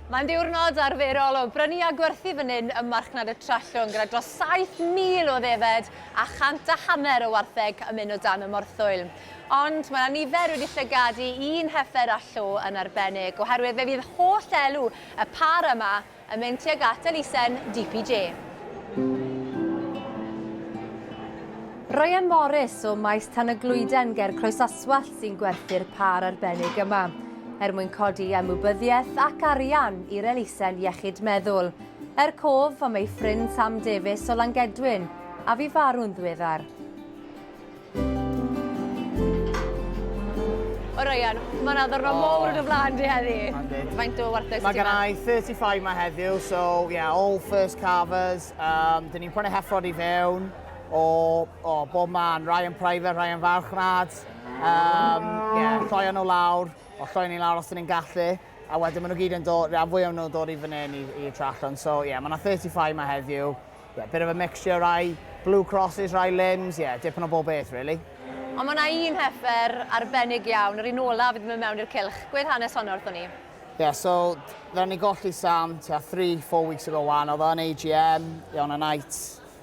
Mae'n ddiwrnod arferol o brynu a gwerthu fan hyn ym Marchnad y Trallwng gyda dros 7,000 o ddefed a chant a hanner o wartheg yn mynd o dan y morthwyl. Ond mae 'na nifer wedi llygad i un heffer a llo yn arbennig oherwydd fe fydd holl elw y pâr yma yn mynd tuag at elusen DPJ. Ryan Morris o Maes Tan-y-glwyden ger Croesaswallt sy'n gwerthu'r pâr arbennig yma. er mwyn codi ymwybyddiaeth ac arian i'r elusen iechyd meddwl, er cof am ei ffrind Sam Davies o Langedwyn, a fu farw'n ddiweddar. O Ryan, mae yna ddwrnod oh. mowr yn y blaen di heddi. Faint o wartheg Mae gen i 35 mae heddiw, so yeah, all first carvers. Um, dyn ni'n prynu heffrod i fewn o, o bob man, Ryan Private, Ryan Farchnad. Um, yeah, lloio nhw lawr, o lloio ni lawr os ydyn ni'n gallu, a wedyn maen nhw gyd yn dod, rhan fwy o'n nhw'n dod i fan hyn i, i trallon. So, yeah, mae yna 35 yma heddiw. Yeah, bit of a mixture, rai blue crosses, rai limbs, yeah, dipyn o bob beth, really. Ond mae yna un heffer arbennig iawn, yr un olaf i ddim yn mewn i'r cilch. Gwedd hanes honno wrthyn ni. Yeah, so, dda ni golli Sam, tua 3-4 weeks ago wan, oedd o'n AGM, yeah, on a night,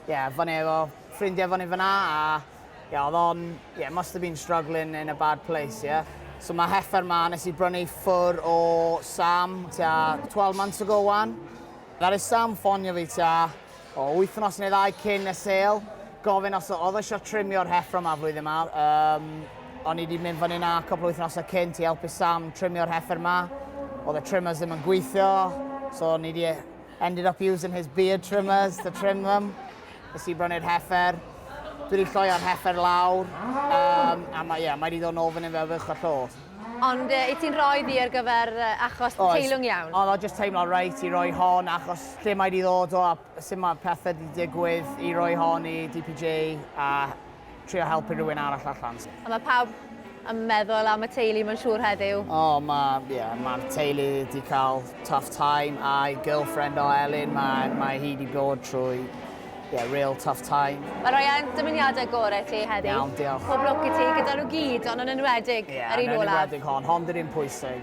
yeah, fan efo, ffrindiau fan efo na, a Ie, oedd o'n... Ie, must have been struggling in a bad place, ie. Yeah? So mae heffer ma, nes i brynu ffwr o Sam tua 12 months ago wan. That is Sam ffonio fi tua o wythnos neu ddau cyn y sale. Gofyn os oedd eisiau trimio'r heffro yma flwyddyn yma. Um, o'n i wedi mynd fan yna cwpl o wythnosau cynt i helpu Sam trimio'r heffer yma. Oedd y trimmers ddim yn gweithio, so o'n i wedi ended up using his beard trimmers to trim them. Nes i brynu'r heffer. Dwi wedi lloio'r heffer lawr. Um, a mae, yeah, mae wedi dod yn ôl fan hyn fel fych a llodd. Ond uh, i ti'n rhoi ddi ar gyfer uh, achos Oes. teilwng iawn? Ond o jyst teimlo reit i roi hon achos lle mae wedi ddod o a sut mae pethau wedi digwydd i roi hon i DPJ a trio helpu rhywun arall allan. A mae pawb yn meddwl am y teulu mae'n siŵr heddiw. O, oh, mae yeah, ma teulu wedi cael tough time a'i girlfriend o Elin, mae, mae hi wedi bod trwy yeah, real tough time. Mae rhoi e'n dymuniadau gorau ti heddi. Iawn, diolch. Pob lwc i ti gyda nhw gyd, ond yn enwedig yeah, yr un olaf. Yn enwedig hon, hon dyn ni'n pwysig.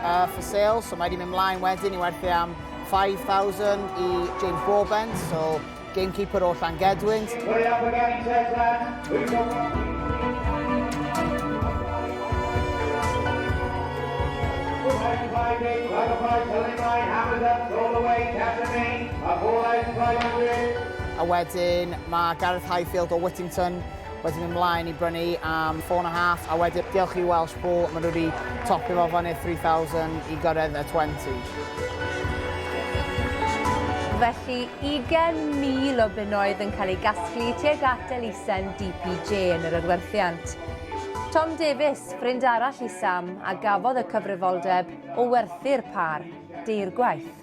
Uh, for sale, so mae wedi mynd mlaen wedyn i werthu am 5,000 i James Broadbent, so gamekeeper o Llangedwynt. A wedyn mae Gareth Highfield o Whittington Wedyn mynd mlaen i brynu am four and a half a wedyn diolch i Welsh Bull maen nhw wedi topio fo fyny 3000 i gyrraedd y 20. Felly 20,000 o bunnoedd yn cael eu gasglu tuag at elusen DPJ yn yr adwerthiant. Tom Davies, ffrind arall i Sam, a gafodd y cyfrifoldeb o werthu'r pâr, deirgwaith.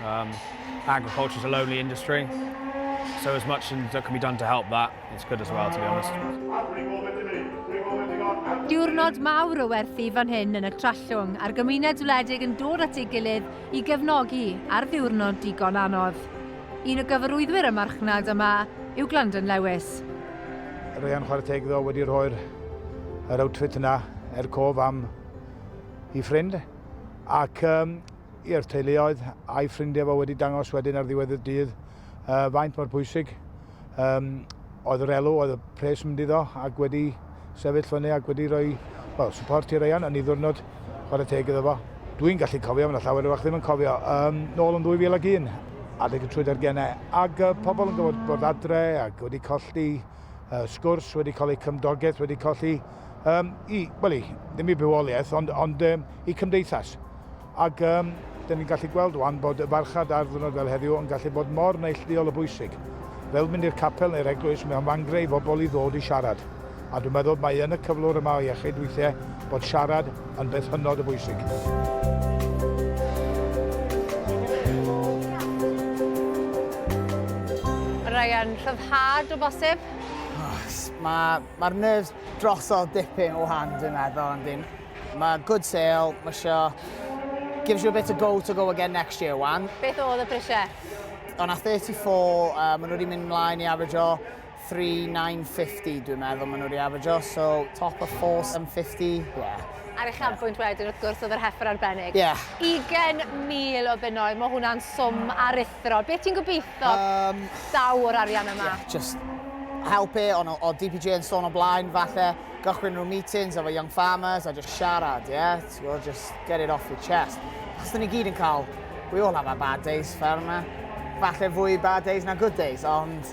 Um, agriculture is a lonely industry, so as much as that can be done to help that, it's good as well, to be honest. Diwrnod mawr o werthu fan hyn yn y Trallwng a'r gymuned wledig yn dod at ei gilydd i gefnogi ar ddiwrnod digon anodd. Un o gyfarwyddwyr y marchnad yma yw Glandon Lewis. Ryan Chwarteg ddo wedi rhoi'r yr outfit yna er cof am i ffrind ac um, i'r teuluoedd a'i ffrindiau fo wedi dangos wedyn ar ddiwedd y dydd uh, faint mor bwysig um, oedd yr elw, oedd y pres yn mynd iddo ac wedi sefyll fyny ac wedi rhoi well, support i'r eian yn ei ddwrnod chwarae teg iddo fo. Dwi'n gallu cofio, mae'n llawer o'ch ddim yn cofio, um, nôl yn 2001, adeg y trwy ar gennau, ac uh, pobl yn gwybod bod adre ac wedi colli uh, sgwrs, wedi colli cymdogaeth, wedi colli um, i, well, ddim i bywoliaeth, ond, ond um, i cymdeithas. Ac um, dyn ni'n gallu gweld wan bod y farchad ar ddwrnod fel heddiw yn gallu bod mor neillduol o bwysig. Fel mynd i'r capel neu'r eglwys, mae o'n fangre i fobl i ddod i siarad. A dwi'n meddwl mae yn y cyflwr yma o iechyd weithiau bod siarad yn beth hynod o bwysig. Ryan, rhyddhad o bosib? Oh, mae Mae'r nerves drosodd dipyn o hand dwi'n meddwl ond dim. Mae good sale, mae sio... Gives you a bit of go to go again next year, wan. Beth oedd y prisiau? O'n a 34, uh, maen nhw wedi mynd mlaen i average o 3950 dwi'n meddwl maen nhw wedi average o, so top of 4750, yeah. Ar eich anbwynt wedyn, wrth gwrs, oedd yr heffer arbennig. Yeah. 20,000 o bunnoedd, mae hwnna'n swm aruthrol. Thro, beth ti'n gobeithio um, daw o'r arian yma? Yeah, just help it, ond o DPJ yn sôn o blaen, falle gychwyn rhyw meetings efo young farmers a just siarad, yeah? Ti'n just get it off your chest. Achos dyn ni gyd yn cael, we all have our bad days, fair yma. Falle fwy bad days na good days, ond